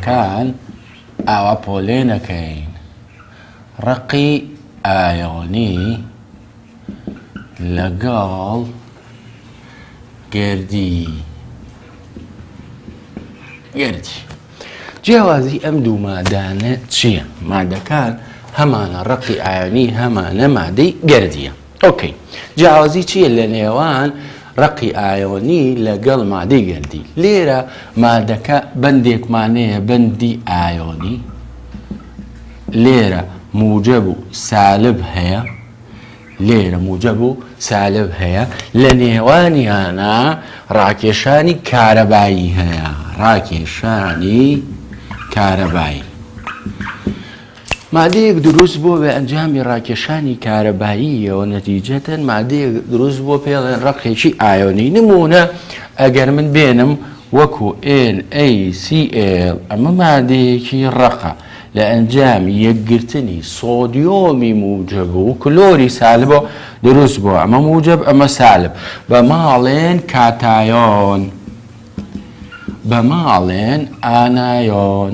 کان ئاوا پۆلێنەکەین ڕەقی ئایۆنی لەگەڵ گەردی گەردی جیاوازی ئەم دوو مادانە چییە مادەکان هەمانە ڕەقی ئایۆنی هەمانە مادەی گەردیە ئۆکەی جیاوازی چیە لە نێوان ڕەقی ئایۆنی لەگەڵ مادەی گەردی لێرە مادەکە بەندێکمانەیە بەندی ئایۆنی لێرە موجب و سالب هەیە لێرە موجب و سالب هەیە لە نێوانیانە ڕاکێشانی کارەبایی هەیە ڕاکێشانی کارەبایی مادەیەک دروست بووە بە ئەنجامی ڕاکێشانی کارەباییەوە نەتیجەتەن مادەیەک دروست بووە پێڵێن ڕەقێکی ئایۆنی نمونە ئەگەر من بێنم وەکو NaCl ئەمە مادەیەکی ڕەقە لە ئەنجام یەکگرتنی سۆدیۆمی موجب و کلۆری سالبەوە دروست بووە ئەمە موجب ئەمە سالب بە ماڵێن کاتایۆن بە ماڵێن ئانایۆن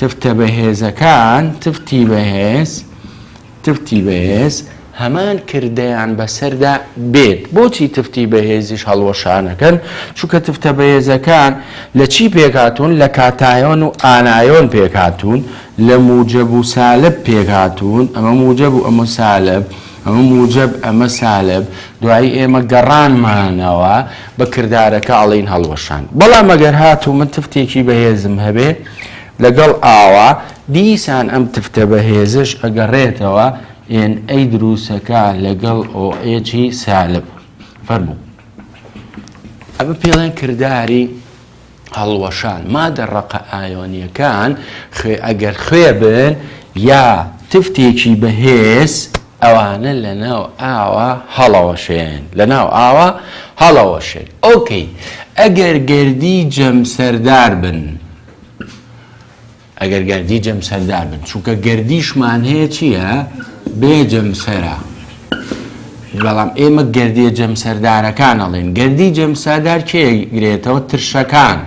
تفتە بەهێزەکان، تفتی بەهێز، تفتی بەهێز، هەمان کردەیان بەسەردا بێت بۆچی تفتی بەهێزیش هەڵوەشانەکەن چونکە تفتە بەهێزەکان لە چی پێکهاتوون لە کاتایۆن و ئانایۆن پێکهاتوون لە موجب و سالب پێکهاتوون ئەمە موجب و ئەمە سالب ئەمە موجەب ئەمە سالب دوایی ئێمە گەڕانمانەوە بە کردارەکە ئەڵێین هەڵوەشان بەڵام ئەگەر هاتوو من تفتێکی بەهێزم هەبێ لەگەڵ ئاوا دیسان ئەم تفتە بەهێزش ئەگەڕێتەوە ئێن ئەی دروسەکە لەگەڵ ئۆئێجی سالب فەرموو ئەمە پێڵێن کرداری هەڵوەشان، مادە ڕەقە ئایۆنییەکان خوێ ئەگەر خوێ بن یا تفتێکی بەهێز ئەوانە لەناو ئاوا هەڵەوەشێن لەناو ئاوا هەڵەوەشێن ئۆکەی ئەگەر گەردی جەمسەردار بن. ئەگەر گەردی جەمسەردار بن چونکە گەردیشمان هەیە چییە بێ جەمسەرە بەڵام ئێمە گەردیە جەمسەردارەکان ئەڵێن گەردی جەمسادار کێ گرێتەوە ترشەکان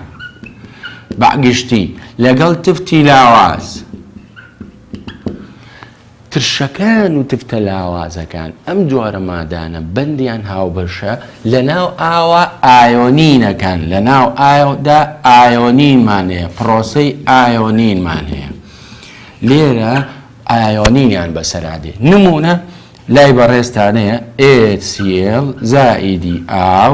بەگشتی لەگەڵ تفتی لاواز ترشەکان و تفتە لاوازەکان، ئەم جۆرە مادانە بەندیان هاوبەشە لەناو ئاوە ئایۆنینەکان، لەناو ئاودا ئایۆنینمان هەیە، پرۆسەی ئایۆنینمان هەیە، لێرە ئایۆنینیان بەسەرا دێ، نموونە لای بەڕێزتانەیە HCl زائیدی ئاو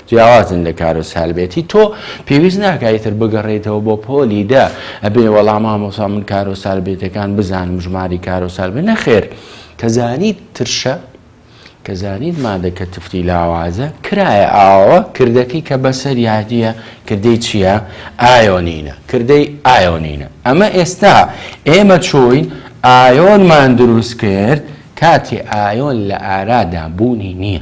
جیاوازن لە کارۆس هەلبێتی تۆ پێویست ناکا ئیتر بگەڕێیتەوە بۆ پۆلی دە ئەبێ وەڵا مامۆسا من کارۆس هەلبێتەکان بزانم ژماری کارۆس هەلبێت نەخێر کە زانیت ترشە کە زانیت مادە کە تفتی لاوازە کرایە ئاوە کردەکەی کە بەسەر یادیە کردەی چییە ئایۆنینە کردەی ئایۆنینە ئەمە ئێستا ئێمە چۆین ئایۆنمان دروست کرد کاتی ئایۆن لە ئارادا بوونی نییە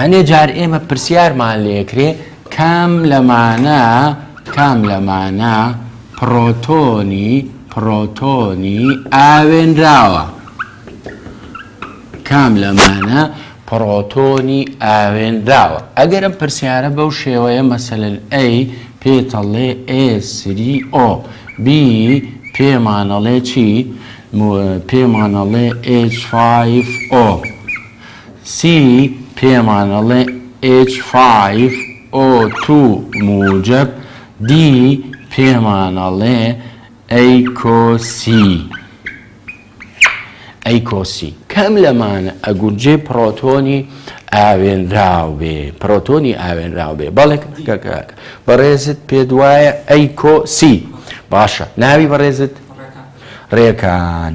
هەنێ جار ئێمە پرسیارمان لێکرێ کام لەمانە کام لەمانە پڕۆتۆنی پڕۆتۆنی ئاوێنراوە کام لەمانە پڕۆتۆنی ئاوێنراوە ئەگەر ئەم پرسیارە بەو شێوەیە مەسەلەن ئەی پێتەڵێ ئێسری ئۆ بی پێمانەڵێ چی پێمانەڵێ H5O سی پێمان ئەڵێ ئێچ فایڤ ئۆ تو موجەب دی پێمان ئەڵێ ئەی کۆسی ئەی کۆسی کەم لەمانە ئەگونجێ پڕۆتۆنی ئاوێنراو بێ پڕۆتۆنی ئاوێنراو بێ بەڵێک کەکەکە بەڕێزت پێ دوایە ئەی کۆسی باشە ناوی بەڕێزت ڕێکان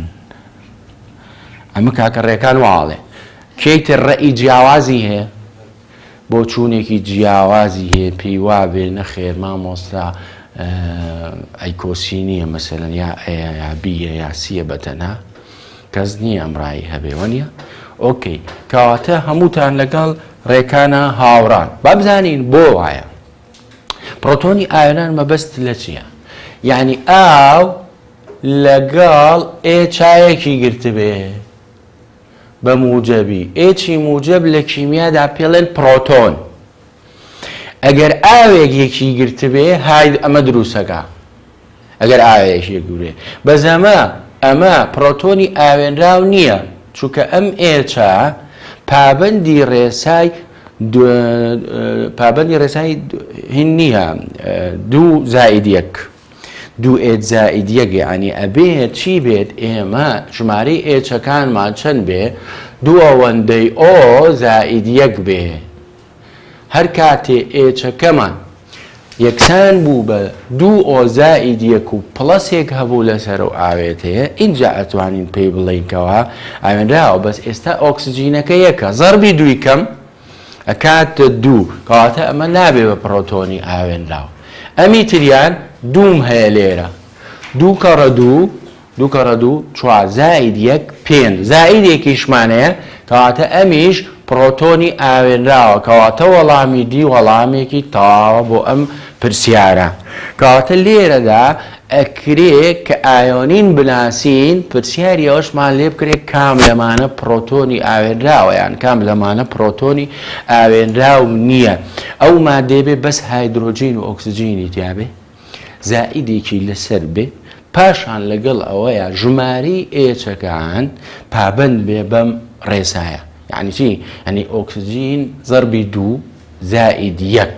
ئەمە کاکە ڕێکان وا ئەڵێ. کێی تر ڕەئی جیاوازی هەیە؟ بۆچوونێکی جیاوازی هەیە پێی وابێ نەخێر مامۆستا ئەیکۆسی نییە مەسەرەن یا ئەیە یا بیە یا سیە بەتەنها کەس نییە ئەم ڕایی هەبێ وە نیە ئۆکەی کەواتە هەمووتان لەگەڵ ڕێکانە هاوڕان با بزانین بۆ وایە پرۆتۆنی ئایران مەبەست لە چییە یعنی ئاو لەگەڵ ئێ چایەکی گرتبێ بە موجەبی ئێ چی موجەب لە کیمیادا پێڵێن پرۆتۆن ئەگەر ئاوێک یەکی گرتبێ هاید ئەمە دروسەکە ئەگەر ئاوێک یەکگرێ بەزەمە ئەمە پرۆتۆنی ئاوێنراو نییە چونکە ئەم ئێچە پابندی ڕێسای پابندی ڕێسای هین نییە دوو زائید یەک دوو ئێچ زائید یەک یەعنی ئەبێت چی بێت ئێمە ژمارەی ئێچەکانمان چەند بێ دوو ئەوەندەی ئۆ زائید یەک بێ هەر کاتێ ئێچەکەمان یەکسان بوو بە دوو ئۆ زائید یەک و پڵەسێک هەبوو لەسەر و ئاوێتەیە ئینجا ئەتوانین پێی بڵێینکەوە ئاوێنراوە بەس ئێستا ئۆکسجینەکە یەکە زەربی دووی کەم ئەکات دوو کەواتە ئەمە نابێ بە پڕۆتۆنی ئاوێنراو ئەمی تریان دووم هەیە لێرە دوو کەڕە دوو دوو کەڕە دوو چوار زائید یەک پێنج زائیدێکیشمانەیە کەواتە ئەمیش پڕۆتۆنی ئاوێنراوە کەواتە وەڵامی دی وەڵامێکی تەواوە بۆ ئەم پرسیارە کەواتە لێرەدا ئەکرێ کە ئایۆنین بناسین، پرسیاری ئەوەشمان لێ بکرێ کام لەمانە پرۆتۆنی ئاوێنراوە یان کام لەمانە پرۆتۆنی ئاوێنراو نییە؟ ئەو ماددەی بێ بەس هایدرۆجین و ئۆکسجینی تیا بێ، زائیدێکی لەسەر بێ، پاشان لەگەڵ ئەوەیا ژمارەی ئێچەکان پابەند بێ بەم ڕێسایە. یانی چی؟ یانی ئۆکسجین زەربی دوو زائید یەک.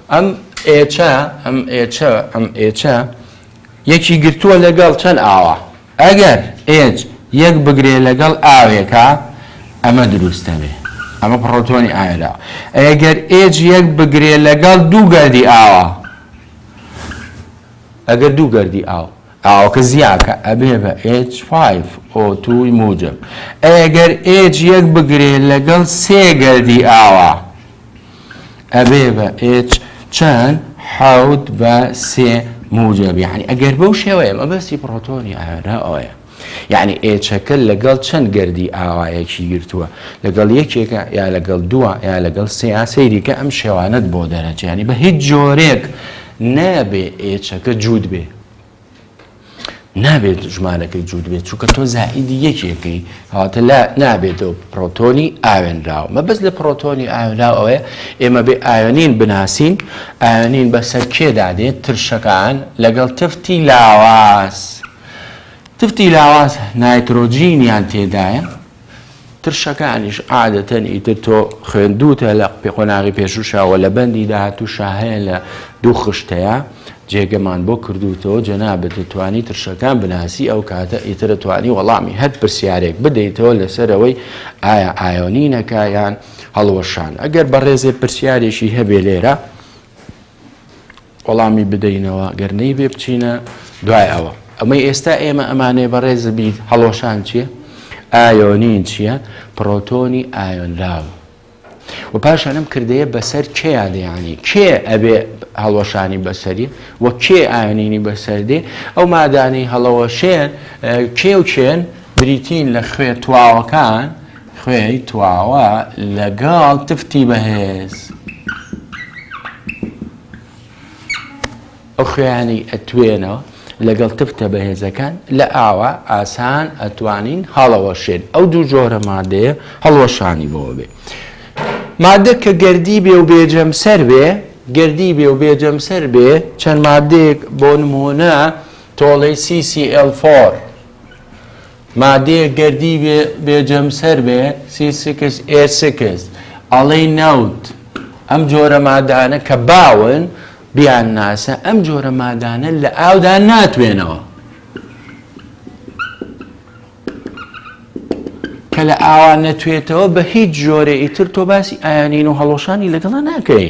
ئەم ئێچە، ئەم ئێچە، ئەم ئێچە یەکی گرتووە لەگەڵ چەند ئاوە. ئەگەر ئێچ یەک بگرێ لەگەڵ ئاوێکا ئەمە دروست دەبێ. ئەمە پڕۆتۆنی ئاوێدا. ئەگەر ئێچ یەک بگرێ لەگەڵ دوو گەردی ئاوە. ئەگەر دوو گەردی ئاو. ئاوەکە زیاکە ئەبێ بە H5O2 موجب. ئەگەر ئێچ یەک بگرێ لەگەڵ سێ گەردی ئاوە. ئەبێ بە ئێچ چەند حەوت بە سێ موجب یعنی ئەگەر بەو شێوەیە مەبەستی پڕۆتۆنی ئانا ئەوەیە یعنی ئێچەکە لەگەڵ چەند گردی ئاوایەکی گرتووە لەگەڵ یەکێکە یا لەگەڵ دووە یا لەگەڵ سێیا سەیریکە ئەم شێوانت بۆ دەرەچیانی بە هیچ جۆرێک نابێ ئێچەکە جووت بێ نابێت ژمارەکەی جووت بێت چونکە تۆ زائیدی یەکێکی هاتە لا نابێتەوە پرۆتۆنی ئاوێنراوە مە بەس لە پرۆتۆنی ئاوێنراو ئەوەیە ئێمە بێ ئاوێنین بناسین ئاوێنین بەسەر کێدا دێت ترشەکان لەگەڵ تفتی لاواز تفتی لاواز نایترۆجینیان تێدایە ترشەکانیش عادەتەن ئیتر تۆ خوێندووتە لە قۆناغی پێشووشەوە لە بەندی داهاتووشە هەیە لە دوو خشتەیە جێگەمان بۆ کردووتەوە جەنابەت دەتوانی ترشەکان بناسی ئەو کاتە ئیترە توانی وەڵامی هەر پرسیارێک بدەیتەوە لەسەرەوەی ئایا ئایۆنینەکایان هەڵوەشان ئەگەر بەڕێزێ پرسیارێکی هەبێ لێرە وەڵامی بدەینەوە گەر نەیبێ بچینە دوای ئەوە ئەمەی ئێستا ئێمە ئەمانێ بەڕێز بیت هەڵۆشان چییە ئایۆنین چییە پرۆتۆنی ئایۆنراو و پاشان ئەم کردەیە بەسەر کێیا دەیانی کێ ئەبێ هەڵۆشانی بەسەری و کێ ئاینینی بەسەردێ ئەو مادانی هەڵەوەشێن کێ و چێن بریتین لە خوێ تواوەکان خوێ تواوە لەگەڵ تفتی بەهێز. ئۆخەیانی ئەتوێنەوە لەگەڵ تفتە بەهێزەکان لە ئاوا ئاسان ئەتوانین هەڵەوەشێن ئەو دوو جۆرە مادەیە هەڵوەشانی بەوە بێ مادە کە گردی بێ و بێجەم سەر بێ گردی بێ و بێجەم سەر بێ چەند مادەیەک بۆ نمونە تۆڵەی CCL4 مادەیەک گەردی بێ بێ جەمسەر بێ سی سکس ئێ سکس ئەڵێی نەوت ئەم جۆرە مادانە کە باون بیان ناسە ئەم جۆرە مادانە لە ئاودا ناتوێنەوە کە لە ئاوا نەتوێتەوە بە هیچ جۆرە ئیتر تۆ باسی ئایانین و هەڵۆشانی لەگەڵا ناکەی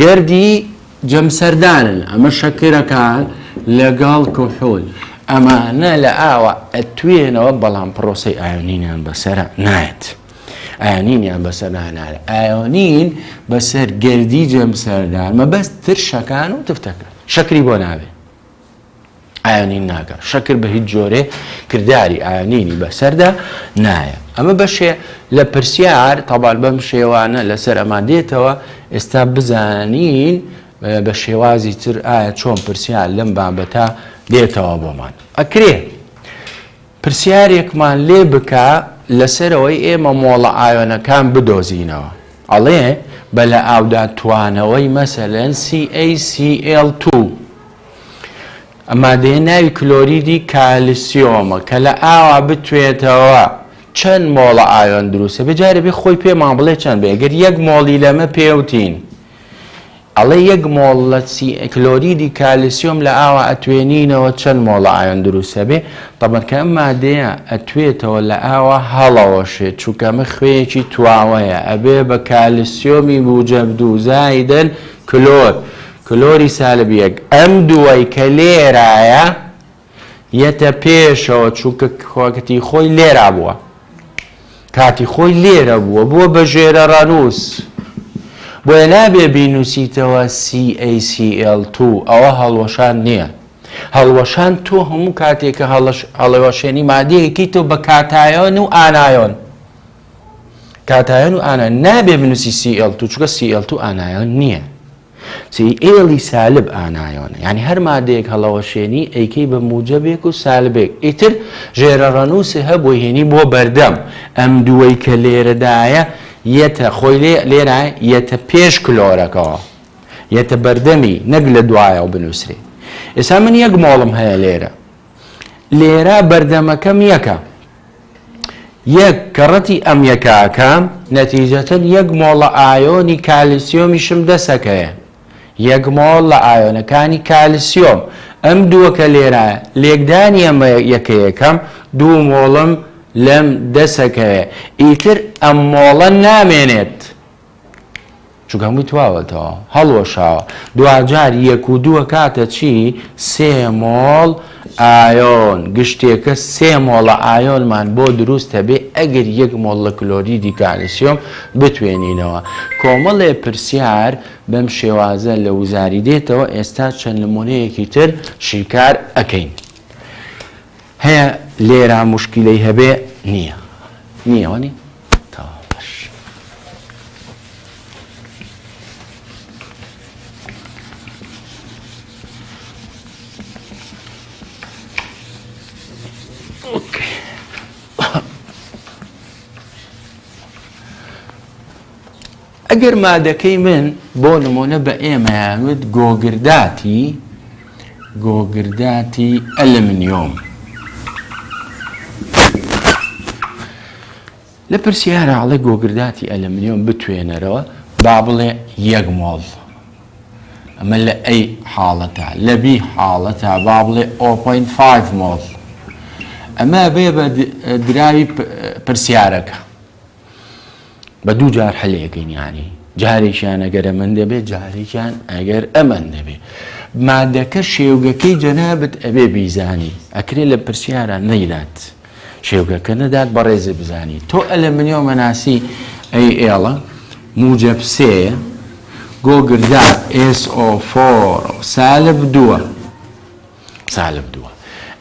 گردی جەمسەردانن ئەمە شەکرەکان لەگەڵ کحول ئەمانە لە ئاوا ئەتوێنەوە بەڵام پرۆسەی ئایۆنینیان بەسەر نایەت ئایۆنینیان بەسەر نانارە ئایۆنین بەسەر گردی جەمسەردان مەبەست ترشەکان و تفتەکە شەکری بۆ ناوێت ئاینین ناکە شەکر بە هیچ جۆرێ کردداری ئاینینی بەسەردا نایە ئەمە بەشێ لە پرسیار تەبار بەم شێوانە لەسەر ئەما دێتەوە ئێستا بزانین بە شێوازی تر ئایا چۆن پرسیار لەم بابەتە دێتەوە بۆمان ئەکرێ پرسیارێکمان لێ بکە لەسەر ئەوەی ئێمە مۆڵە ئایۆنەکان بدۆزینەوە ئەڵێ بە لە ئاودا توانەوەی مەسەلەن CaCl توو ئە مادەیە ناوی کلۆریدی کالسیۆمە کە لە ئاوا بتوێتەوە چەند مۆڵە ئایۆن دروستە بجارە بێ خۆی پێمان بڵێ چەند بێ گەر یەک مۆڵی لەمە پێوتین ئەڵێ یەک مۆڵ لە کلۆریدی کالسیۆم لە ئاوا ئەتوێنینەوە چەند مۆڵە ئایۆن دروست ئەبێ تەبەن کە ئەم مادەیە ئەتوێتەوە لە ئاوا هەڵەوەشێت چونکە ئەمە خوێیەکی تواوەیە ئەبێ بە کالسیۆمی موجەب دوو زایدەن کلۆر کلۆری سالب یەک ئەم دووەی کە لێرایە یەتە پێشەوە چونکە کاتی خۆی لێرا بووە کاتی خۆی لێرە بووە بووە بە ژێرە ڕانووس بۆیە نابێ بینوسیتەوە CACL2 ئەوە هەڵوەشان نییە هەڵوەشان تۆ هەموو کاتێکە هەڵەوەشێنی مادەیەکی تۆ بە کاتایۆن و ئانایۆن کاتایۆن و ئانا نابێ بنووسی CL2 چووکە CL2 ئانایۆن نییە سیئێڵی سالب ئانایۆنە یانی هەر مادەیەک هەڵەوەشێنی ئەیکەی بە موجەبێک و سالبێک ئیتر ژێرە ڕەنووسێ هەبووە هێنی بۆ بەردەم ئەم دووەی کە لێرەدایە یەتە خۆی لێ لێرە یەتە پێش کلۆرەکەەوە یەتە بەردەمی نەک لە دوایەوە بنووسرێ ئێسا من یەک مۆڵم هەیە لێرە لێرە بەردەمەکەم یەکە. یەک کەڕەتی ئەم یەکاکە نەتیجەتەن یەک مۆڵە ئایۆنی کالیسیۆمیشم دەسەکەیە. یەک مۆڵ لە ئایۆنەکانی کالیسیۆم ئەم دووەکە لێرە لێکدانی ئەم یەکەیەکەم دوو مۆڵم لەم دەسەکەیە ئیتر ئەم مۆڵە نامێنێت. چونکە هەمووی تواوەتەوە هەڵوەشاوە دواجار یەک و دووە کاتە چی سێ مۆڵ ئایۆن گشتێکە سێ مۆڵە ئایۆنمان بۆ دروستە بێ ئەگەر یەک مۆڵ لە کلۆریدی کالیسیۆم بتوێنینەوە کۆمەڵێ پرسیار بەم شێوازە لە وزاری دێتەوە ئێستا چەند نمونەیەکی تر شیکار ئەەکەین. هەیە لێرا مشکلەی هەبێ نییە نییەوەنی تەواو باش ئەگەر مادەکەی من بۆ نموونە بە ئێمەیان وت گۆگرداتی گۆگرداتی ئەلمنیۆم لە پرسیارە ئەڵێ گۆگرداتی ئەلمنیۆم بتوێنەرەوە با بڵێ یەک مۆڵ ئەمە لە ئەی حاڵەتە لە بی حاڵەتە با بڵێ 0.5 مۆڵ ئەمە بێ بە دراوی پرسیارەکە بە دوو جار هەلێکن یانی جارێکیان ئەگەر ئەمەند دەبێت جارێکیان ئەگەر ئەمەن دەبێت مادەکە شێوگەکەی جەنابەت ئەبێ بیزانی ئەکرێ لە پرسیارە نەیدات شێوگەکە نەدات بەڕێزە بزانی تۆ ئەلە منیۆ مەناسی ئەی ئێڵە موجب سێە گۆگردار SO4 سالب دووە سالب دووە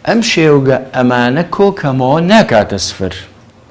ئەم شێوگە ئەمانە کۆکەمەوە ناکاتە سفر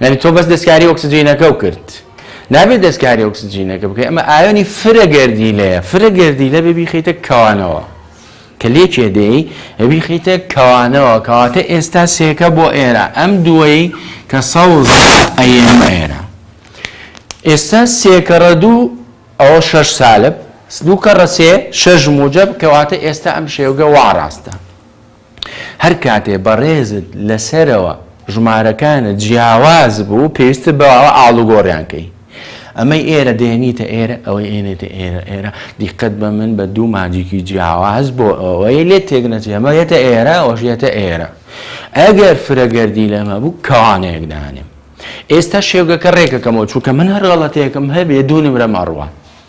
یعنی تۆ بەس دەستکاری ئۆکسجینەکە و کرد نابێت دەستکاری ئۆکسجینەکە بکەی ئەمە ئایۆنی فرە گردیلەیە فرە گردیلە بێ بیخیتە کەوانەوە کە لێکێ دێی ئەبی خیتە کەوانەوە کەواتە ئێستا سێکە بۆ ئێرە ئەم دوایی کە سەوز ئەیەمە ئێرە ئێستا سێکەڕە دوو ئەوە شەش سالب دوو کەڕە سێ شەش موجب کەواتە ئێستا ئەم شێوگە وا ڕاستە هەر کاتێ بەڕێزت لەسەرەوە ژمارەکانت جیاواز بوو پێویستە بەوە ئاڵوگۆڕیان کەی ئەمەی ئێرە دێنیتە ئێرە ئەوەی ئێنێتە ئێرە ئێرە دیقەت بە من بە دوو ماجیکی جیاواز بۆ ئەوەی لێ تێک نەچێ ئەمە یەتە ئێرە ئەوەشیەتە ئێرە ئەگەر فرەگەردی لەمە بوو کەوانەیەک دانێم ئێستا شێوگەکە ڕێکەکەمەوە چووکە من هەر غەڵەتەیەکم هەبێ دوو نمرە مەڕوە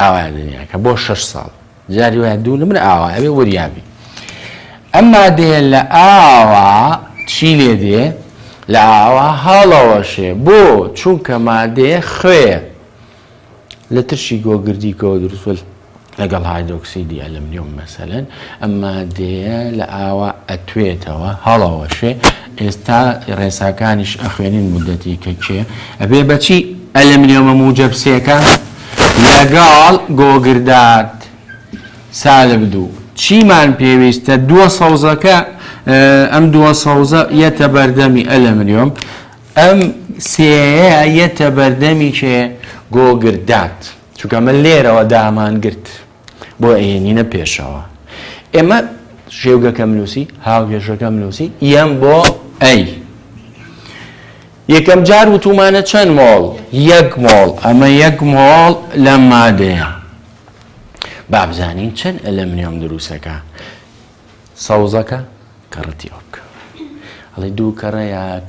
ئاوایە دنیاکە بۆ شەش ساڵ جاری وایە دوو نمرە ئاوا ئەبێ وریابی ئەم مادەیە لە ئاوا چی لێ دێ لە ئاوا هەڵەوەشێ بۆ چونکە مادەیە خوێ لە ترشی گۆگردیکەوە دروستل لەگەڵ هایدۆکسیدی ئەلمنیۆم مەسەلەن ئەم مادەیە لە ئاوا ئەتوێتەوە هەڵەوەشێ ئێستا ڕێساکانیش ئەخوێنین مودەتی کە کێ ئەبێ بەچی ئەلمنیۆمە موجەب سێکە لەگەڵ گۆگردات سالب دوو چیمان پێویستە دووە سەوزەکە ئەم دووە سەوزە یەتە بەردەمی ئەلمنیۆم ئەم سێەیە یەتە بەردەمی کێ گۆگردات چونکە من لێرەوە دامان گرت بۆ ئەیێنینە پێشەوە ئێمە شێوگەکەم نووسی هاوگێژەکەم نووسی یەم بۆ ئەی یەکەم جار وتومانە چەند مۆڵ یەک مۆڵ ئەمە یەک مۆڵ لە مادەیە بابزانین چەند ئەلەمنیۆم دروستەکە سەوزەکە کەڕەتی ئۆک ئەڵێ دوو کەڕەیەک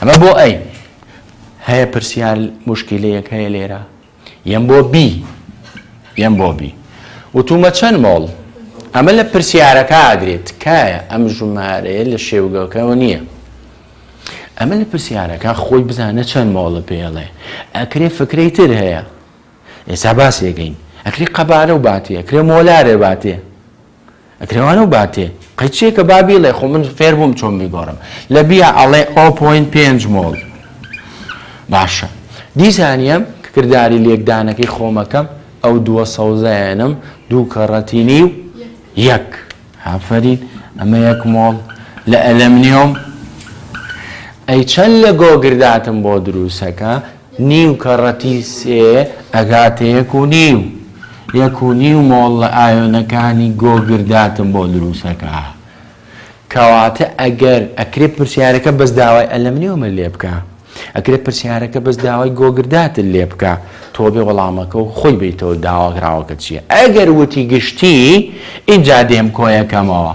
ئەمە بۆ ئەی هەیە پرسیار مشکلەیەک هەیە لێرە یەم بۆ بی یەم بۆ بی وتومە چەند مۆڵ ئەمە لە پرسیارەکە ئاگرێت تکایە ئەم ژمارەیە لە شێوگەکەەوە نییە ئەمە لە پرسیارەکە خۆی بزانە چەند مۆڵە پێڵێ ئەکرێ فکرەی تر هەیە ئێستا باسێگەین ئەکری قەبارە و باتێ ئەکرێ مۆلارێ باتێ ئەکرەوانە و باتێ قەی چێکە با بیڵێ خۆ من فێر بووم چۆن بیگۆڕم لە بیا ئەڵێ ئۆ پۆینت پێنج مۆڵ باشە دیسانیە کە کرداری لێکدانەکەی خۆمەکەم ئەو دووە سەوزایەنم دوو کەڕەتینی و یەک هافەرین ئەمە یەک مۆڵ لە ئەلەمنیۆم ئەی چەند لە گۆگرداتم بۆ دروسەکە نیو کەڕەتی سێ ئەگاتە یەک و نیو. یەک و نیو مۆڵ لە ئایۆنەکانی گۆگرد داتم بۆ دروست ئەکا. کەواتە ئەگەر ئەکرێ پرسیارەکە بەس داوای ئەلەمنیۆمت لێ بکا. ئەکرێ پرسیارەکە بەس داوای گۆگرداتت لێ بکا. تۆ بێ وەڵامەکە و خۆی بەیتەوە داواکراوەکە چییە. ئەگەر وتی گشتی ئینجا دێم کۆیەکەمەوە.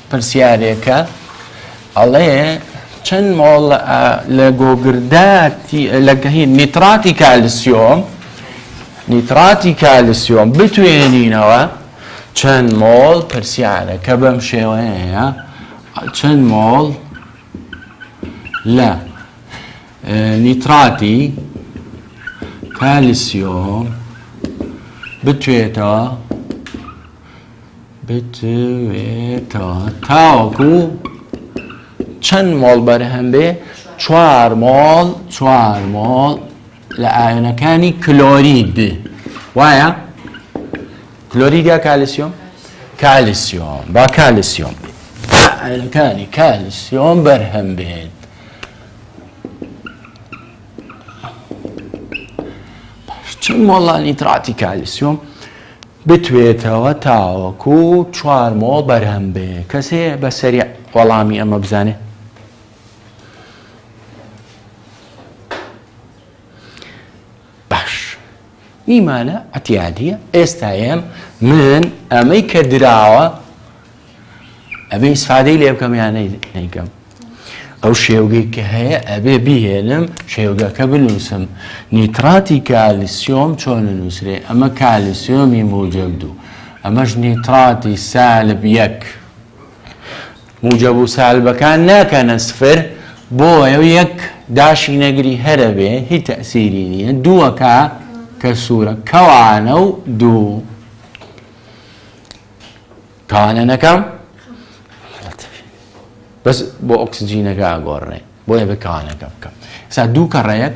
پرسیارێکە ئەڵێ چەند مۆڵ لە گۆگرداتی لەگەهی نیتراتی کالسیۆم نیتراتی کالسیۆم بتوێنینەوە چەند مۆڵ پرسیارە کە بەم شێوەیە چەند مۆڵ لە نیتراتی کالسیۆم بتوێتەوە بتوێتەوە تاوەکو چەند مۆڵ بەرهەم بێ چوار مۆڵ چوار مۆڵ لە ئاوێنەکانی کلۆرید بێ وایە کلۆرید یا کالیسیۆم کالیسیۆم با کالیسیۆم ئاوێنەکانی کالیسیۆم بەرهەم بێت چەند مۆڵانی تراتی کالیسیۆم بتوێتەوە تاوەکو چوار مۆڵ بەرهەم بێ کەس هەیە بە سەریع وەڵامی ئەمە بزانێ؟ باش نیمانە عتیادیە ئێستا ئێم من ئەمەی کە دراوە ئەبێ ئیسفادەی لێ بکەم یان نەیکەم ئەو شێوگەی کە هەیە ئەبێ بهێنم شێوگەکە بنووسم نیتراتی کالیسیۆم چۆن نووسێ ئەمە کالیسیۆمی موجب دوو ئەمەش نیتراتی سالب یەک موجب و سالبەکان ناکەنە سفر بۆ ئەو یەک داشی نەگری هەرە بێ هی تەسیری نییە دووەکە کە سوورە کەوانە و دوو تاوانە نەکەم بەس بۆ ئۆکسجینەکە ئاگۆڕێ بۆیە بکانەکە بکەم سا دوو کەڕەیەک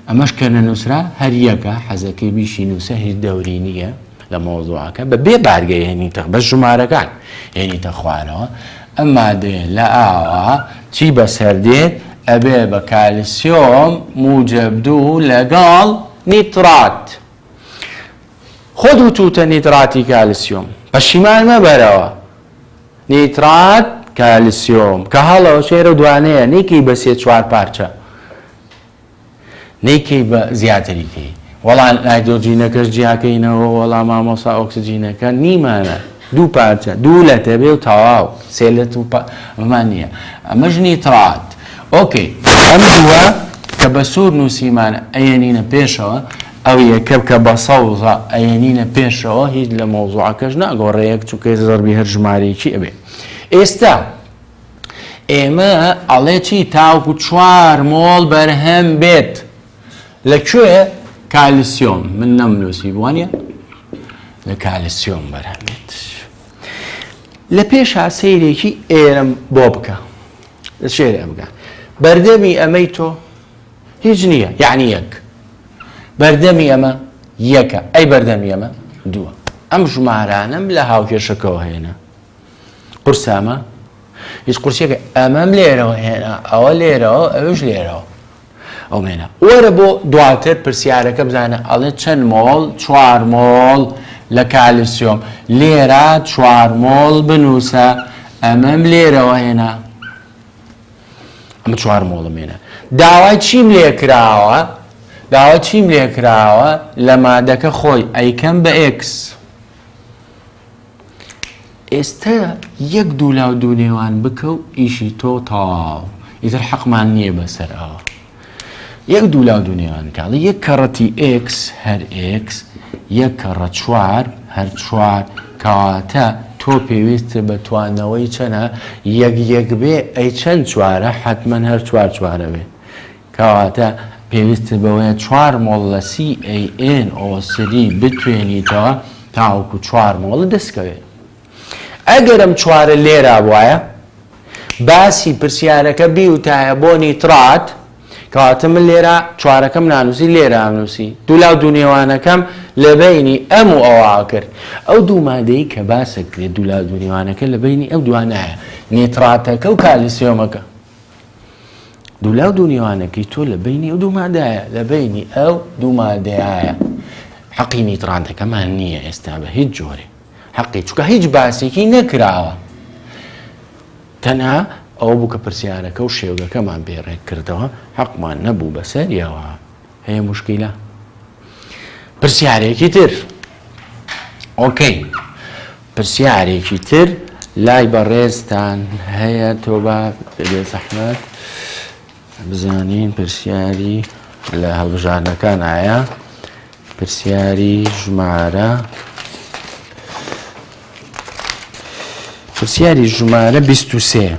ئەمەش کە نە نووسرا هەریەکە حەزەکە بیشی نووسە هیچ دەوری نییە لە مۆزوعەکە بە بێ بارگەی هێنیتە بە ژمارەکان هێنیتە خوارەوە ئەما دێ لە ئاوا چی بەسەردێت ئەبێ بە کالسیۆم موجب دوو لەگەڵ نیترات. خۆت وتوتە نیتراتی کالسیۆم پەشیمان مەبەرەوە نیترات کالسیۆم کە هەڵەوە شێرە دوانەیە نیکەی بە سێ چوار پارچە نیکەی بە زیاتریکەی وەڵام نایدۆجینەکەش جیاکەینەوە وەڵام مامۆسا ئۆکسجینەکە نیمانە دوو پارچە دوو لەتە بێ و تەواو سێ لەت و پا ئەمان نییە ئەمەش نیتڕات ئۆکەی ئەم دووە کە بە سوور نووسیمانە ئەیەنینە پێشەوە ئەو یەکە کە بە سەوزە ئەیەنینە پێشەوە هیچ لە مەوزوعەکەش ناگۆڕەیەک چووکەی زەربی هەر ژمارەیەکی ئەبێ ئێستا ئێمە ئەڵێ چی تاوکو چوار مۆڵ بەرهەم بێت لە کوێ کالیسیۆم من نەمنووسی بووانە لە کالسیۆم بەرهەم دێت لە پێشا سەیرێکی ئێرم بۆ بکە لە شێر ئەمگە بەردەمی ئەمەی تۆ هیچ نییە یعنی یەک بەردەمی ئەمە یەکە ئەی بەردەمی ئەمە دووە ئەم ژمارانم لە هاوکێشەکەەوە هێنە قورسامە هیچ قورسەکە ئەمەم لێرەوە هێنا ئەوە لێرەوە ئەوش لێرەوە ئەومێنە وەرە بۆ دواتر پرسیارەکە بزانە ئەڵێ چەند مۆڵ چوار مۆڵ لە کالیسیۆم لێرە چوار مۆڵ بنووسە ئەمەم لێرەوە هێنا ئەمە چوار مۆڵمێنە داوای چیم لێ کراوە داوا چیم لێ کراوە لە مادەکە خۆی ئەیکەم بە ئکس ئێستە یەک دوو لاو دوو نێوان بکە و ئیشی تۆ تەواو ئیتر حەقمان نییە بەسەر ئەوە یەک دوو لاو دوو نێوان کاڵی یەک کەڕەتی ئکس هەر ئکس یەک کەڕە چوار هەر چوار کەواتە تۆ پێویست بە توانەوەی چەنە یەک یەک بێ ئەی چەند چوارە حتمما هەر چوار چوارە بێ کەواتە پێویستت بەوەیە چوار مۆڵ لە CaNO سری بتوێنیتەوە تاوەکو چوار مۆڵت دەستکەوێت. ئەگەر ئەم چوارە لێرابوایە باسی پرسیارەکە بیوتایە بۆ نیترات کەواتە من لێرە چوارەکەم نانووسی لێرە ئەمنووسی دوولاو دوو نێوانەکەم لە بەینی ئەم و ئەوە ئەکرد ئەو دوو مادەی کە باسەکرێت دوولاو دوو نێوانەکە لە بەینی ئەو دوانایە نیتراتەکە و کالیسیۆمەکە. دوولاو دوو نێوانەکەی تۆ لە بینی ئەو دوو مادایە لە بینی ئەو دوو مادەیە حەقی نیترانتەکەمان نییە ئێستا بە هیچ جۆرێ حەقی چکە هیچ باسێکی نەکراوە تەنها ئەو بوو کە پرسیارەکە و شێوگەکەمان بێڕێک کردەوە حەقمان نەبوو بەسەریەوە هەیە مشکیلە پرسیارێکی تر ئۆکەی پرسیارێکی تر لای بەڕێزتان هەیە تۆ بە بێ زەحمەت بزانین پرسیاری لە هەڵبژاردنەکان ئایا پرسیاری ژمارە پرسیاری ژمارە 23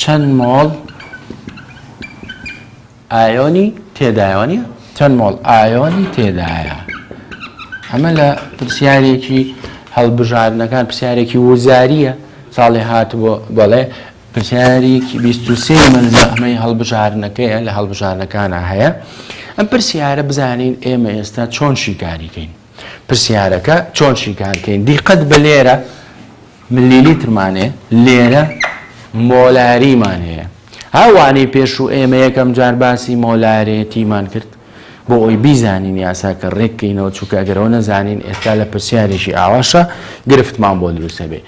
چەند مۆڵ ئایۆنی تێدایە وانە چەند مۆڵ ئایۆنی تێدایە ئەمە لە پرسیارێکی هەڵبژاردنەکان پرسیارێکی وزاریە ساڵی هات بۆ بەڵێ پرسیارێکی 23 من زەحمەی هەڵبژاردنەکەیە لە هەڵبژاردنەکانە هەیە ئەم پرسیارە بزانین ئێمە ئێستا چۆن شیکاریکەین پرسیارەکە چۆن شیکارکەین دیقەت بە لێرە ملیلیترمانێ لێرە مۆلاریمان هەیە ها وانەی پێشوو ئێمە یەکەم جار باسی مۆلارێتیمان کرد بۆ ئەوی بیزانین یاساکە ڕێککەینەوە چووکە ئەگەرەوە نەزانین ئێستا لە پرسیارێکی ئاواشە گرفتمان بۆ دروستە بێ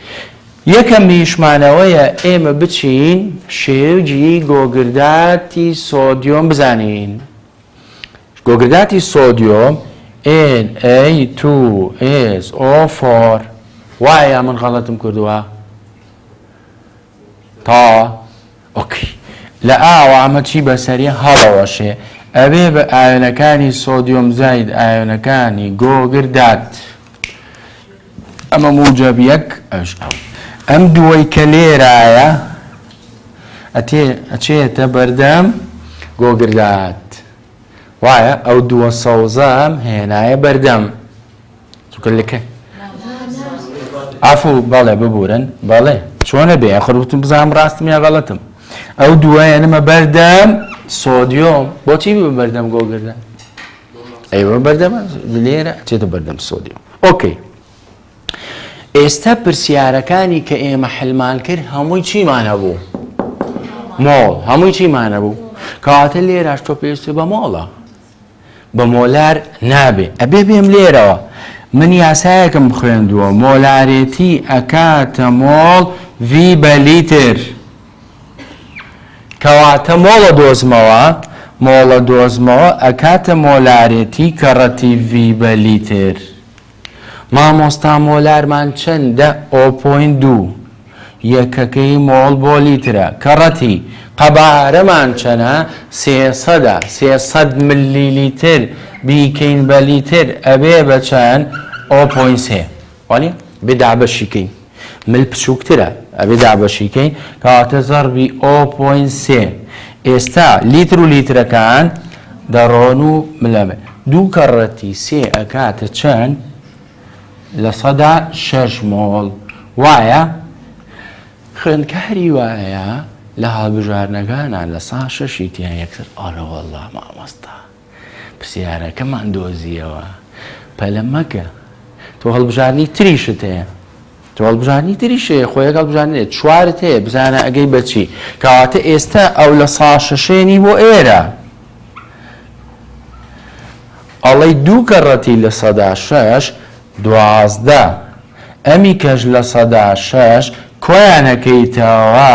یەکەم میشمانەوەیە ئێمە بچین شێوجی گۆگرداتی سۆدیۆم بزانین گۆگرداتی سۆدیۆم Na2SO4 وایە یا من غەڵەتم کردووە؟ تا ئۆکی لە ئاوە ئەمە چی بەسەری هەڵەوەشێ ئەبێ بە ئاوێنەکانی سۆدیۆم زاید ئاوێنەکانی گۆگردات. ئەمە موجەب یەک ئەش ئەو. ئەم دووەی کە لێرایە ئەتێ ئەچێتە بەردەم گۆگردات وایە ئەو دووە سەوزەم هێنایە بەردەم چونکە لەکە ئافو بەڵێ ببورن بەڵێ چۆنە بێ خروتم بزانام ڕاستم یا غەڵەتم ئەو دوایە نمە بەردەم سۆدیۆم بۆچی بە بەردەم گۆگردە ئەوە بەردەمە لێرە ئەچێتە بەردەم سۆدیۆم ئۆکەی ئێستا پرسیارەکانی کە ئێمە حلمان کرد هەمووی چیمان هەبوو مۆڵ هەمووی چیمان هەبوو کەواتە لێراش تۆ پێویست بە مۆڵە بە مۆلار نابێ ئەبێ بێم لێرەوە من یاسایەکم خوێندووە مۆلارێتی ئەکاتە مۆڵ ڤی بە لیتر کەواتە مۆڵە دۆزمەوە، مۆڵە دۆزمەوە ئەکاتە مۆلارێتی کەڕەتی ڤی بە لیتر. مامۆستا مۆلارمان چەندە ئۆ پۆینت دوو یەکەکەی مۆڵ بۆ لیترە کەڕەتی قەبارەمان چەنە سێ سەدە سێ سەد ملی لیتر بیکەین بە لیتر ئەبێ بە چەند ئۆ پۆینت سێ. وانیە؟ بێ دابەشی کەین مل بچووکترە ئەبێ دابەشی کەین کەواتە زەڕبی ئۆ پۆین سێ ئێستا لیتر و لیترەکان دەڕۆن و ملەمێ دوو کەڕەتی سێ ئەکاتە چەند لە سەدا شەش مۆڵ وایە خوێندکاری وایە لە هەڵبژارنەکانە لە سا شەشی تیا یەکتر ئارەوەله مامۆستا پرسیارەکەمان دۆزییەوە. پەلە مەکە. تۆ هەڵبژاردنی تریشت هەیە. تۆ هەڵبژاردنی تریش هەیە، خۆ یەک هەڵبژاردن نییە. چوارت هەیە، بزانە ئەگەی بە چی. کەواتە ئێستا ئەو لە ساڵ شەشێنی بۆ ئێرە. ئەڵێی دوو کەڕەتی لە سەدا شەش. دوازدە، ئەمی کەش لە سەدا شەش کۆیان ئەکەیتەوە،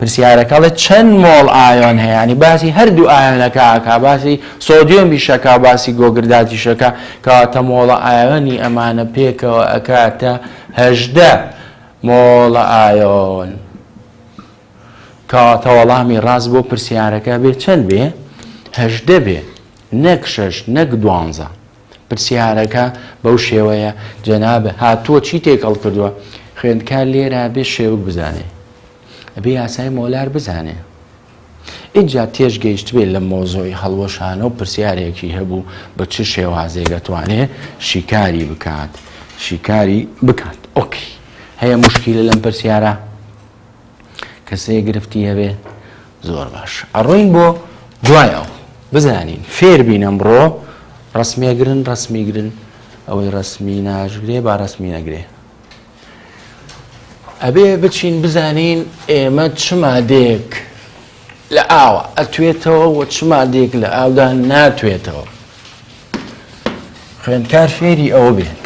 پرسیارەکە ئەڵێ چەند مۆڵ ئایۆن هەیە یانی باسی هەردوو ئایۆنەکە ئەکا باسی سۆدیۆمیش ئەکا باسی گۆگرداتیش ئەکا کەواتە مۆڵە ئایۆنی ئەمانە پێکەوە ئەکاتە هەژدە مۆڵە ئایۆن کەواتە وەڵامی ڕاست بۆ پرسیارەکە بێ چەند بێ هەژدە بێ نەک شەش نەک دوانزە. پرسیارەکە بەو شێوەیە جەنابە هاتووە چی تێکەڵ کردووە خوێندکار لێرە بێ شێوک بزانێ ئەبێ یاسای مۆلار بزانێ ئینجا تێش گەیشت بێت لە مۆزۆی هەڵوەشانە و پرسیارێکی هەبوو بە چ شێوازێک دەتوانێت شیکاری بکات شیکاری بکات ئۆکی هەیە مشکیلە لەم پرسیارە کەسەیە گرفتی هەبێ زۆر باش ئەڕۆین بۆ دوای ئەو بزانین فێر بین ئەمڕۆ ڕسمێگرن ڕسمیگرن ئەوەی ڕسمی ناژگرێ با ڕسمی نەگرێ ئەبێ بچین بزانین ئێمە چمادێک لە ئاوە ئەتوێتەوە و چمادێک لە ئاودا ناتوێتەوە خوێندکار فێری ئەوە بێت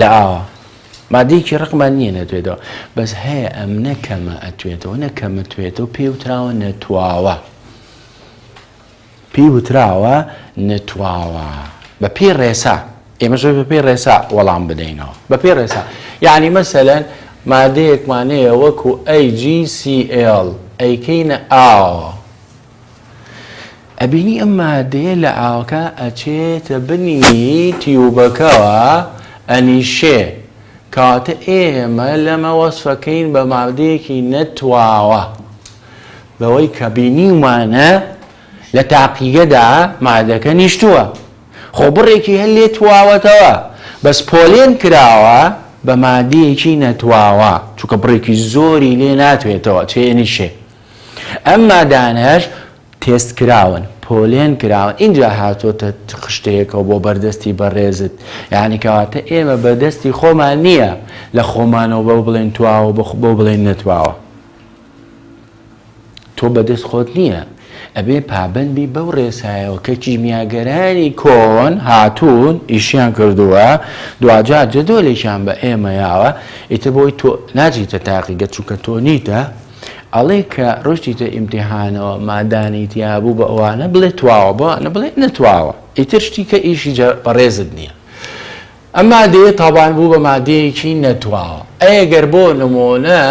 لە ئاوا مادەیەکی ڕقمان نییە نەتوێتەوە بەس هەیە ئەم نەکەمە ئەتوێتەوە نەکەمەتوێتەوە پێی وتراوە نەتواوە پێی وتراوە نەتواوە بە پێی ڕێسا ئێمە زۆر بە پێی ڕێسا وەڵام بدەینەوە بە پێی ڕێسا یعنی مەسەلەن مادەیەکمانەیە وەکو ئەی جی سیL ئەیکەینە ئاوە ئەبینی ئەم مادەیە لە ئاوەکە ئەچێتە بنی تیوبەکەوە ئەنیشێ کەواتە ئێمە لەمە وەسفەکەین بە مادەیەکی نەتواوە بەوەی کە بینیومانە لە تاقیگەدا مادەکە نیشتووە خۆ بڕێکی هەر لێ تواوەتەوە بەس پۆلێن کراوە بە مادەیەکی نەتواوە چونکە بڕێکی زۆری لێ ناتوێتەوە چێنیشێ ئەم مادانەش تێست کراون پۆلێن کراون ئینجا هاتۆتە خشتەیەکەوە بۆ بەردەستی بەڕێزت یعنی کەواتە ئێمە بەدەستی خۆمان نییە لە خۆمانەوە بەو بڵێن تواوە بۆ بڵێن نەتواوە تۆ بەدەست خۆت نییە ئەبێ پابندبی بەو ڕێسایەوە کە کیمیاگەرانی کۆن هاتوون ئیشیان کردووە دوجار جدۆلێکیان بە ئێمە یاوە ئیتر بۆی تۆ ناجیتە تاقیگە چونکە تۆ نیتە ئەڵێ کە ڕۆشتیتە ئیمتیحانەوە مادانی تیابوو بە ئەوانە بڵێ تواوە بۆ ئەە بڵێ نەتواوە ئیتر شتی کە ئیشی بەڕێزت نییە ئەما دێ تاوان بوو بە مادەیەکی نەتواوە ئەگەر بۆ نمۆنە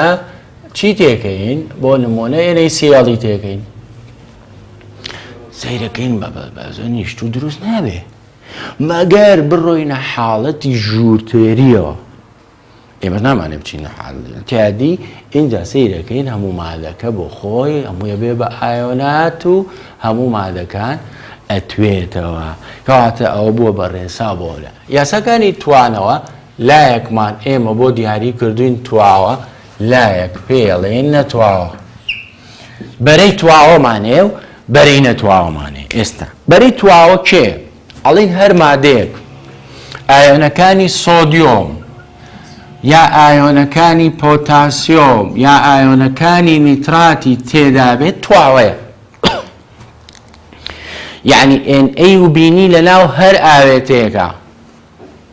چی تێکەین بۆ نمۆنە ئێرەی سیاڵی تێکەین سەیرەکەین بە بەزۆ نیشت و دروست نابێ مەگەر بڕۆینە حاڵەتی ژوورتێریەوە ئێمە نامانێ بچین تیادی ئینجا سیرەکەین هەموو مادەکە بۆ خۆی هەموویە بێ بە ئایۆنات و هەموو مادەکان ئەتوێتەوە کەواتە ئەوە بووە بە ڕێسا بۆ لە یاساکانی توانەوە لایەکمان ئێمە بۆ دیاری کردوین تواوە لایەک پێڵێن نەتواوە بەرەی تواوەمانێ و بەرەی نەتواوەمانێ ئێستا بەرەی تواوە کێ ئەڵێن هەر مادەیەک ئایۆنەکانی سۆدیۆم یا ئایۆنەکانی پۆتاسیۆم یا ئایۆنەکانی نیتراتی تێدابێت تواوەیە یعنی NA و بینی لەناو هەر ئاوێتەیەکە.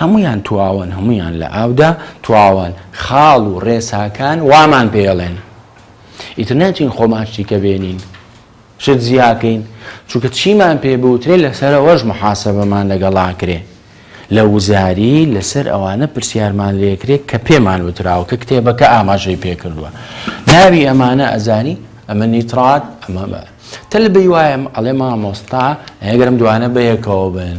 هەموویان تواون هەمویان لە ئاودا تواون خاڵ و ڕێساکان وامان پێڵێن ئیتر ناچین خۆماشتی کە بێنین شت زیاکەین چونکە چیمان پێ بوترێ لەسەرەوەش محاسبەمان لەگەڵا کرێ لە وزاری لەسەر ئەوانە پرسیارمان لێکرێت کە پێمان وتراوە کە کتێبەکە ئاماژەی پێکردووە ناوی ئەمانە ئەزانی ئەمە نیترات ئەمە تەل بی وایم ئەڵێ مامۆستا ئەگەرم دوانە بەیەکەوە بن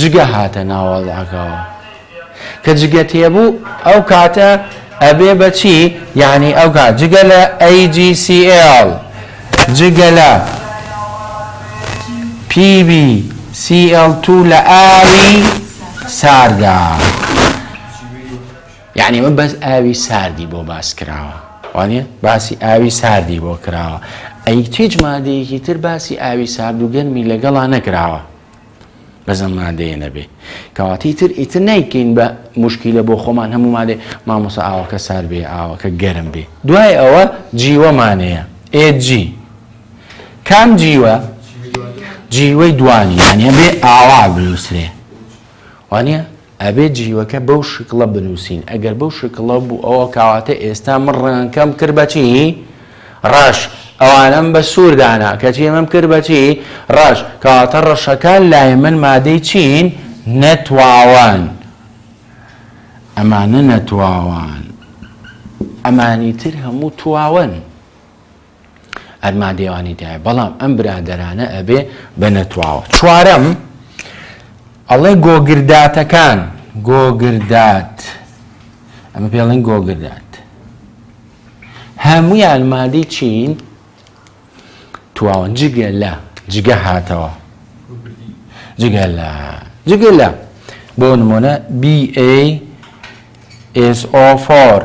جگە هاتە ناوەڵاگەوە کە جگە تێبوو ئەو کاتە ئەبێ بەچی یعنی ئەو کات جگە لە AGCL جگە لە PB CL2 لە ئاوی ساردا. یەعنی ئەمە بەس ئاوی ساردی بۆ باس کراوە وانە باسی ئاوی ساردی بۆ کراوە ئەی هیچ مادەیەکی تر باسی ئاوی سارد و گەرمی لەگەڵا نەکراوە بەزەم مادەیە نەبێ کەواتی تر ئیتر نیکەین بە مشکیلە بۆ خۆمان هەموو مادێ مامۆسا ئاوەکە سار بێ ئاوەکە گەرم بێ دوای ئەوە جیوەمانەیە ئێجی کام جیوە جیوەی دوانی یانە بێ ئاوا بنووسێ وانە ئەبێ جیوەکە بەو شکڵە بنووسین، ئەگەر بەو شکڵە بوو ئەوە کەواتە ئێستا من ڕەنگەکەم کرد بە چی؟ ڕەش، ئەوانەم بە سوور دانا، کەچی ئەمەم کرد بە چی؟ ڕەش، کەواتە ڕەشەکان لای من مادەی چین؟ نەتواوەن، ئەمانە نەتواوەن، ئەمانی تر هەموو تواون. هەر مادێوانی تایە بەڵام ئەم برادەرانە ئەبێ بە نەتواوە چوارەم ئەڵێ گۆگرداتەکان گۆگردات ئەمە پێڵێن گۆگردات هەمویان مادەی چین تواون جگە لە جگە هاتەوە جگە لە جگە لە بۆ نمونە BA SO4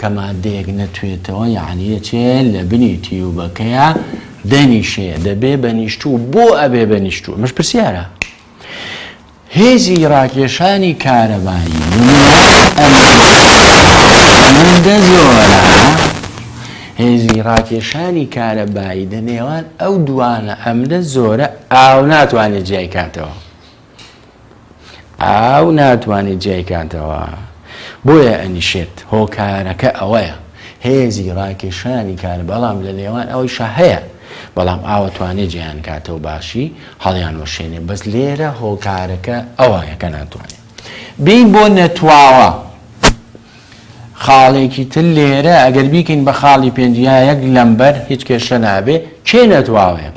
کە مادەیەک نەتوێتەوە یەعنی ئەچێ لەبنی تیوبەکەیا دەنیشێ دەبێ بەنیشتوو بۆ ئەبێ بەنیشتوو ئەمەش پرسیارە هێزی ڕاکێشانی کارەبایی ئەمەندە زۆرە هێزی ڕاکێشانی کارەبایی دە نێوان ئەو دوانە ئەمدە زۆرە ئاو ناتوانێت جیای کاتەوە ئاو ناتوانێت جیایکاتەوە بۆیە ئەنیشێت هۆکارەکە ئەوەیە هێزی ڕاکێشانی کار بەڵام لە نێوان ئەوەی شەهەیە بەڵام ئاوە توانێت جیان کاتەوە باشی هەڵیان وەشێنێ بەس لێرە هۆکارەکە ئەوەیەکە ناتوانێت بین بۆ نەتواوە خاڵێکی تر لێرە ئەگەر بیکەین بە خاڵی پێنج یا یەک لەمبەر هیچ کێشە نابێ کێ نەتواوێت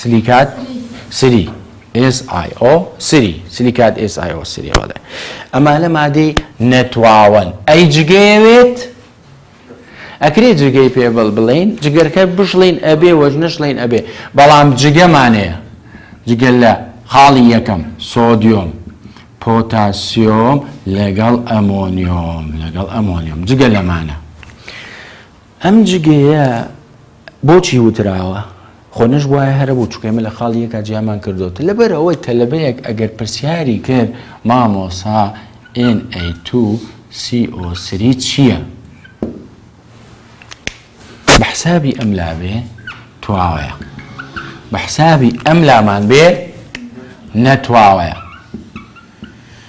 سلیکات سری SIO سری سلیکات SIO سری هەڵێ ئەمانە مادەی نەتواوەن ئەی جگەیەوێت ئەکرێ جگەی پێ بڵ بڵین جگەرکە بشڵین ئەبێ وەژ نەشڵین ئەبێ بەڵام جگەمانەیە جگە لە خاڵی یەکەم سۆدیۆم پۆتاسیۆم لەگەڵ ئەمۆنیۆم لەگەڵ ئەمۆنیۆم جگە لەمانە ئەم جگەیە بۆچی وتراوە؟ خۆ نەشبوایە هەرەبوو چونکە ئێمە لە خاڵی یەکا جیامان کردۆتە لەبەر ئەوەی تەلەبەیەک ئەگەر پرسیاری کرد مامۆسا NA2CO3 چییە؟ بە حسابی ئەم لابێ تواوەیە بە حسابی ئەم لامان بێ نەتواوەیە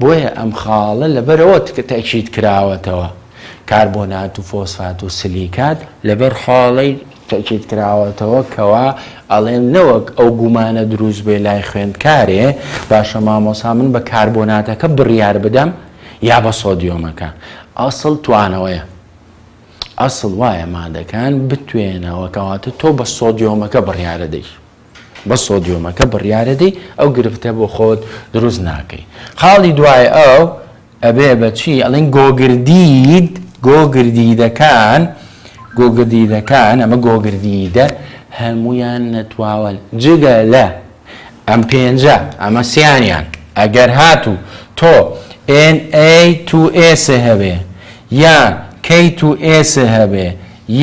بۆیە ئەم خاڵە لەبەرئەوە تەئکید کراوەتەوە، کاربۆنات و فۆسفات و سلیکات لەبەر خاڵەی تەئکید کراوەتەوە کەوا ئەڵێن نەوەک ئەو گومانە دروست بێ لای خوێندکارێ باشە مامۆسا من بە کاربۆناتەکە بڕیار بدەم یا بە سۆدیۆمەکە ئەسڵ توانەوەیە ئەسڵ وایە مادەکان بتوێنەوە کەواتە تۆ بە سۆدیۆمەکە بڕیارە دەیت. بە سۆدیۆمەکە بڕیارەدەی ئەو گرفتە بۆ خۆت دروست ناکەی خاڵی دوای ئەو ئەبێ بەچی ئەڵین گۆگردید گۆگردیدەکان گۆگردیدەکان ئەمە گۆگردیدە هەمویان نەتواوەن جگە لە ئەم پێنجە ئەمە سیانیان ئەگەر هاتوو تۆ NA2S هەبێ یان K2S هەبێ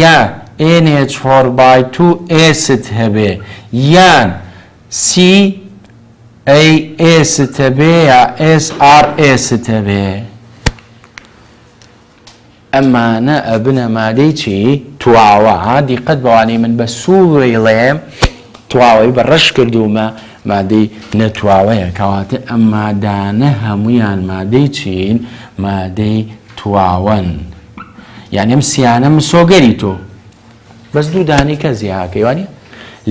یا ئێن ئێچ فۆر بای تو ئێست هەبێ یان سی ئەی ئێست هەبێ یا ئێس ئاڕ ئێست هەبێ ئەمانە ئەبنە مادەی چی تواوە دیقەت بەوانەی من بە سووری ڵێم تواوەی بە ڕەش کردومە مادەی نەتواوەیە کەواتە ئەم مادانە هەمویان مادەی چین مادەی تواون یانی ئەم سیانە مسۆگەری تۆ بەس دوو دانەی کە زیاکەی وانی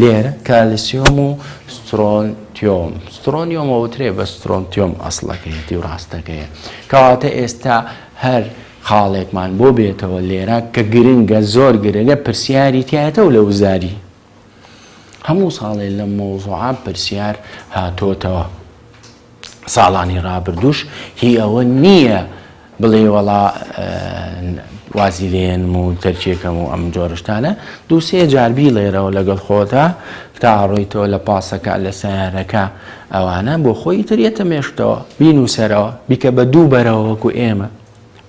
لێرە کالسیۆم و سترۆنتیۆم سترۆنیۆمەوترێ بە سترۆنتیۆم ئەسڵەکەیەتی و ڕاستەکەیە کەواتە ئێستا هەر خاڵێکمان بۆ بێتەوە لێرە کە گرنگە زۆر گرنگە پرسیاری تایەتە و لە وزاری هەموو ساڵێ لەم مەوزوعە پرسیار هاتۆتەوە ساڵانی ڕابردووش هی ئەوە نییە بڵێ وەڵا وازی لێنم و تەرکێکەم و ئەم جۆرشتانە دووسێ جاربی لێرەوە لەگەڵ خۆتا تا ڕۆیتەوە لە پاسەکە لە سیارەکە ئەوانە بۆ خۆی تریێتە مێشتەوە بینوسەرەوە بیکە بە دوو بەرەوە وەکو ئێمە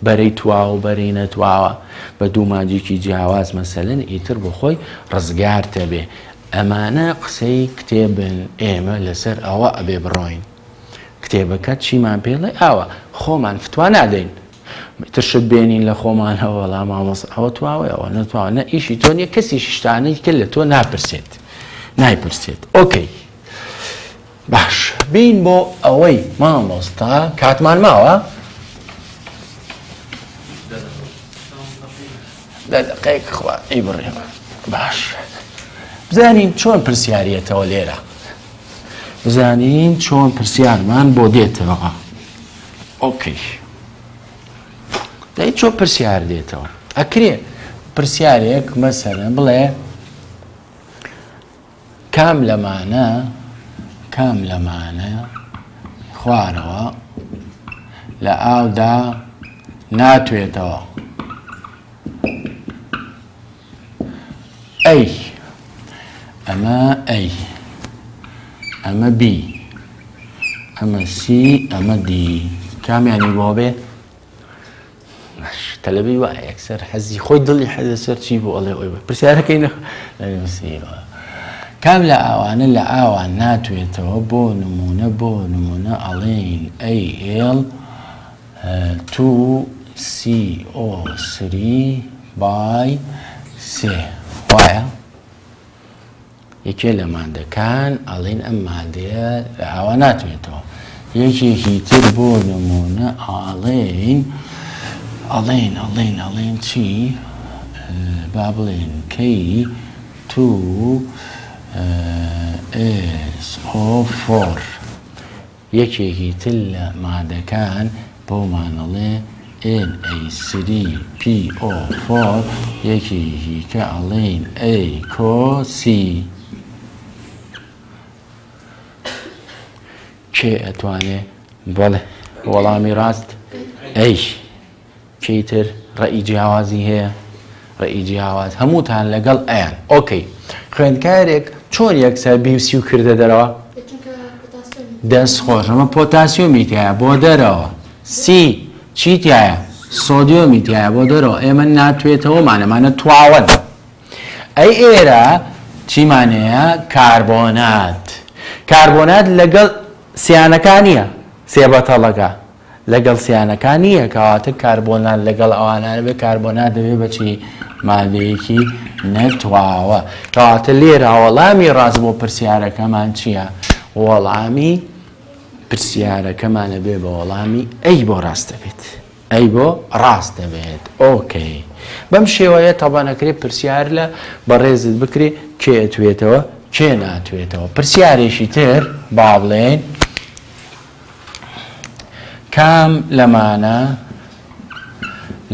بەرەی تواو و بەرەی نەتواوە بە دوو مانجیکی جیاواز مەسەلەن ئیتر بۆ خۆی ڕزگارتە بێ ئەمانە قسەی کتێبن ئێمە لەسەر ئەوە ئەبێ بڕۆین کتێبەکە چیمان پێڵێ ئاوە خۆمان فتوا نادەین ترشت بێنین لە خۆمانەوە وەڵا مامۆس ئەوە تواوەیەوە نەتواوە نە ئیشی تۆ نیە کەسی شتانەی کە لە تۆ ناپرسێت نایپرسێت ئۆکەی باش بین بۆ ئەوەی مامۆستا کاتمان ماوە دە دقەیەک خوا ئی بڕێمە باش بزانین چۆن پرسیارەتەوە لێرە بزانین چۆن پرسیارمان بۆ دێتەوە ئۆکەی دەی چۆن پرسیار دێتەوە ئەکرێ پرسیارێک مەسەرە بڵێ کام لەمانە کام لەمانە خوارەوە لە ئاودا ناتوێتەوە ئەی ئەمە ئەی ئەمە بی ئەمە سی ئەمە دی کامیانی بۆ بێ باش تەلەبەی وایە یەکسەر حەزی خۆی دڵی حەزە سەر چی بۆ ئەڵێ ئەوی پرسیارەکەی نەخ نووسیوە کام لە ئاوانە لە ئاوا ناتوێتەوە بۆ نمونە بۆ نمونە ئەڵێین ئەی ئێڵ تو سی ئۆ سری بای سێ وایە یەکێ لە مادەکان ئەڵێن ئەم مادەیە لە ئاوا ناتوێتەوە یەکێکی تر بۆ نمونە ئاڵێن ئەڵێن ئەڵێن ئەڵێن چی با بڵێن کەی تو ئێس ئۆ فۆر یەکێکی تر لە مادەکان بۆمان ئەڵێ ئێن ئەی سری پی ئۆ فۆر یەکی هیکە ئەڵێین ئەی کۆ سی کێ ئەتوانێ بەڵێ وەڵامی ڕاست ئەیش. کێی تر ڕەئی جیاوازی هەیە؟ ڕەئی جیاواز هەمووتان لەگەڵ ئەیان ئۆکەی خوێندکارێک چۆن یەکسەر بیوسی و کردە دەرەوە دەست خۆش ئەمە پۆتاسیۆمی تایە بۆ دەرەوە سی چی تایە سۆدیۆمی تایە بۆ دەرەوە ئێمە ناتوێتەوەمانەمانە تواوەن ئەی ئێرە چیمانەیە کاربۆنات کاربۆنات لەگەڵ سیانەکان نیە سێبەتەڵەکە لەگەڵ سیانەکان نییە کەواتە کاربۆنات لەگەڵ ئەوانە نەبێت کاربۆنات دەبێت بە چی مادەیەکی نەتواوە کەواتە لێرا وەڵامی ڕاست بۆ پرسیارەکەمان چییە وەڵامی پرسیارەکەمانە بێ بە وەڵامی ئەی بۆ ڕاست دەبێت ئەی بۆ ڕاست دەبێت ئۆکەی بەم شێوەیە تەبانەکرێت پرسیار لە بەڕێزت بکرێ کێ ئەتوێتەوە کێ ناتوێتەوە پرسیارێکی تر با بڵێن کام لەمانە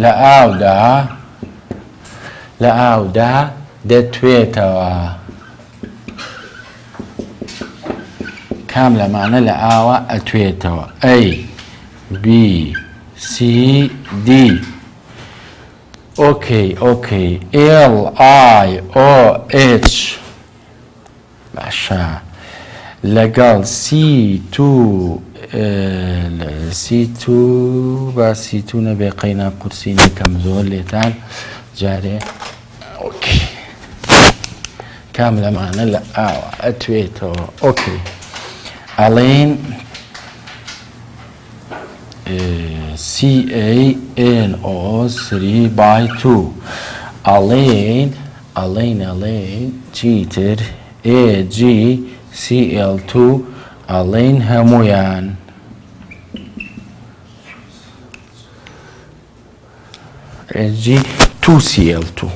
لە ئاودا لە ئاودا دەتوێتەوە؟ کام لەمانە لە ئاوە ئەتوێتەوە؟ ئەی بی سی دی ئۆکەی ئۆکەی ئێڵ ئای ئۆ ئێچ باشە لەگەڵ سی تو سی تو با سی تو نەبێ قەینا قورسی نەکەم زۆر لێتان جارێ ئۆکی کام لەمانە لە ئاوە ئەتوێتەوە ئۆکی ئەڵێن CANO سری بای تو ئەڵین ئەڵین ئەڵین چی تر AG CL تو ئەڵین هەموویان. AG تو CL تو.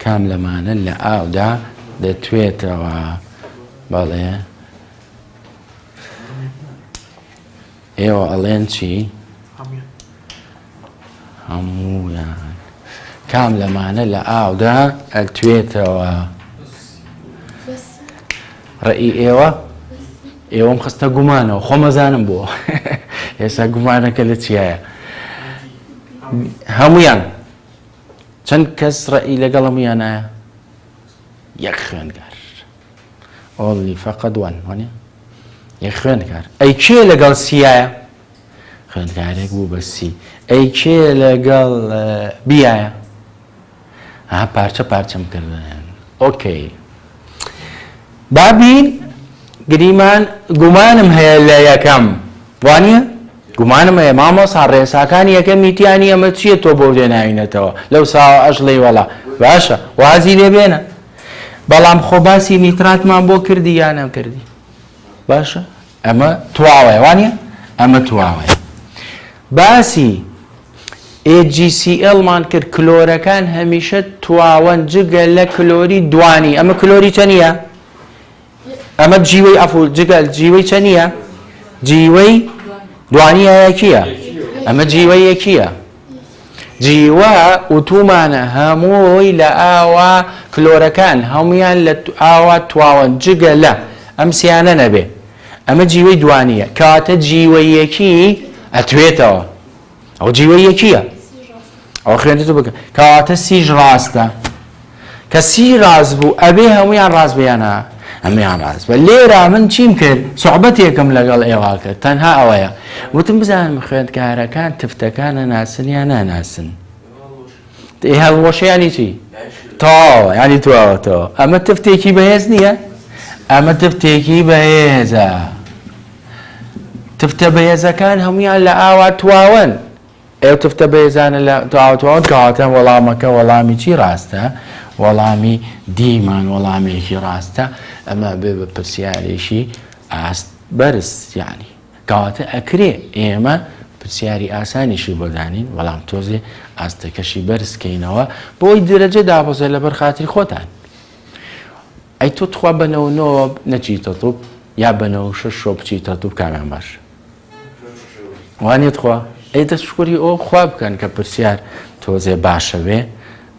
کام لەمانە لە ئاودا دەتوێتەوە؟ بەڵێ. ئێوە ئەڵێن چی؟ هەموویان. کام لەمانە لە ئاودا ئەتوێتەوە؟ ڕێی ئێوە ئێوەم خستە گومانەوە خۆمەزانم بۆ ئێستا گومانەکە لە چیایە هەمویان چەند کەس ڕەئی لەگەڵم یانایە یەک خوێندگار ئۆڵی فەقەت وان وانە یەک خوێندگار ئەی کێ لەگەڵ سیایە خوێندگارێک بوو بە سی ئەی کێ لەگەڵ بیایە ها پارچە پارچەم کردن ئۆکەی بابین گریمان گومانم هەیە لە یەکەم وانە گومانم هەیە مامۆسا ڕێساکانی یەکەم میتیانی ئەمە چییە تۆ بۆ لێناوینەتەوە لەو ساوە ئەش ڵێی وەڵا باشە وازی لێ بێنە بەڵام خۆ باسی نیتراتمان بۆ کردی یا نەکردی باشە ئەمە تواوەیە وانە ئەمە تواوەیە باسی AGCLمان کرد کلۆرەکان هەمیشە تواوەن جگە لە کلۆری دوانی ئەمە کلۆری چەنە ئەمە جیوەی ئەفو جگە جیوەی چە نییە جیوەی دوانیایەکیە ئەمە جیوەی یەکیە جیوە ئوتومانە هەمووی لە ئاوا کلۆرەکان هەمویان لە ئاوا تواوەن جگە لە ئەم سیانە نەبێ ئەمە جیوەی دوانیە کەواتە جیوەیەکی ئەتوێتەوە ئەو جیوە یەکیە ئەو خوێنتو بکە کەواتە سیژ ڕاستە کە سی ڕاز بوو ئەبێ هەمویان ڕاست بیانە ئەمیان ڕاست بە لێرە من چیم کرد سوعبەتێکم لەگەڵ ئێوا کرد تەنها ئەوەیە وتم بزانم خوێندکارەکان تفتەکانە ناسن یا ناناسن ئێ هەڵوەشیانی چی تاوە ینی تواوەتەوە ئەمە تفتێکی بەهێز نییە ئەمە تفتێکی بەهێزە. تفتە بەهێزەکان هەموویان لە ئاوا تواون. ئەو تفتە بەهێزانە لە ئاوا تواون کەواتە وەڵامەکە وەڵامی چی ڕاستە؟ وەڵامی دیمان وەڵامێکی ڕاستە ئەمە بێ بە پرسیارێکی ئاست بەرز یعنی کەواتە ئەکرێ ئێمە پرسیاری ئاسانیشی بۆ دانین بەڵام تۆزێ ئاستەکەشی بەرزکەینەوە بۆی درەجە دابەزە لەبەر خاتری خۆتان ئەی تۆ تخوا بە نەوە نۆ نەچیتە توپ یا بە نەوە شەش شۆ بچیتە توپ کامیان باش وانێ تخوا ئەی دەست شکۆری ئەو خوا بکەن کە پرسیار تۆزێ باشەوێ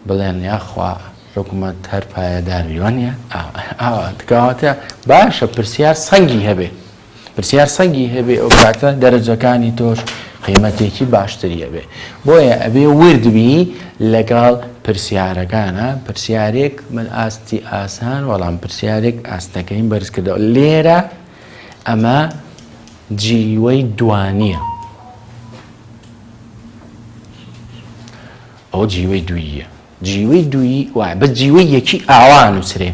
بڵێن یاخوا حکوومەت هەر پایەدارویوانە ئاوا تکاواتە باشە پرسیار سەنگی هەبێ پرسیار سەگی هەبێ ئەو کاتە دەرەجەکانی تۆش قیمەتێکی باشتری هەبێ بۆیە ئەبێ وردبی لەگەڵ پرسیارەکانە پرسیارێک من ئاستی ئاسان وەڵام پرسیارێک ئاستەکەیم بەرز کردەوە لێرە ئەمە جیوەی دوانیە ئەو جیوەی دویە جیوەی دوی وای بە جیوەی یەکی ئاوا نووسرێ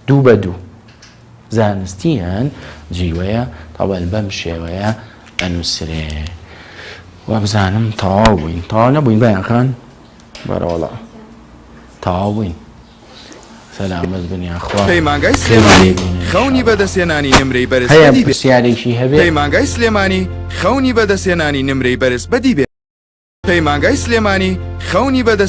دوو بە دوو زانستیان جیوەیە تەوەل بەم شێوەیە ئەنووسرێ وەبزانم تەواو بووین تەواو نەبووین بەیانخان بەرەوەڵا تەواو بووین سەلامەت بنیا خوا پەیمانگای سلێمانی خەونی بەدەستێنانی نمرەی بەرز بەدی بێ سیارێکی هەبێ پەیمانگای سلێمانی خەونی بەدەستێنانی نمرەی بەرز بەدی بێ پەیمانگای سلێمانی خەونی بەدەست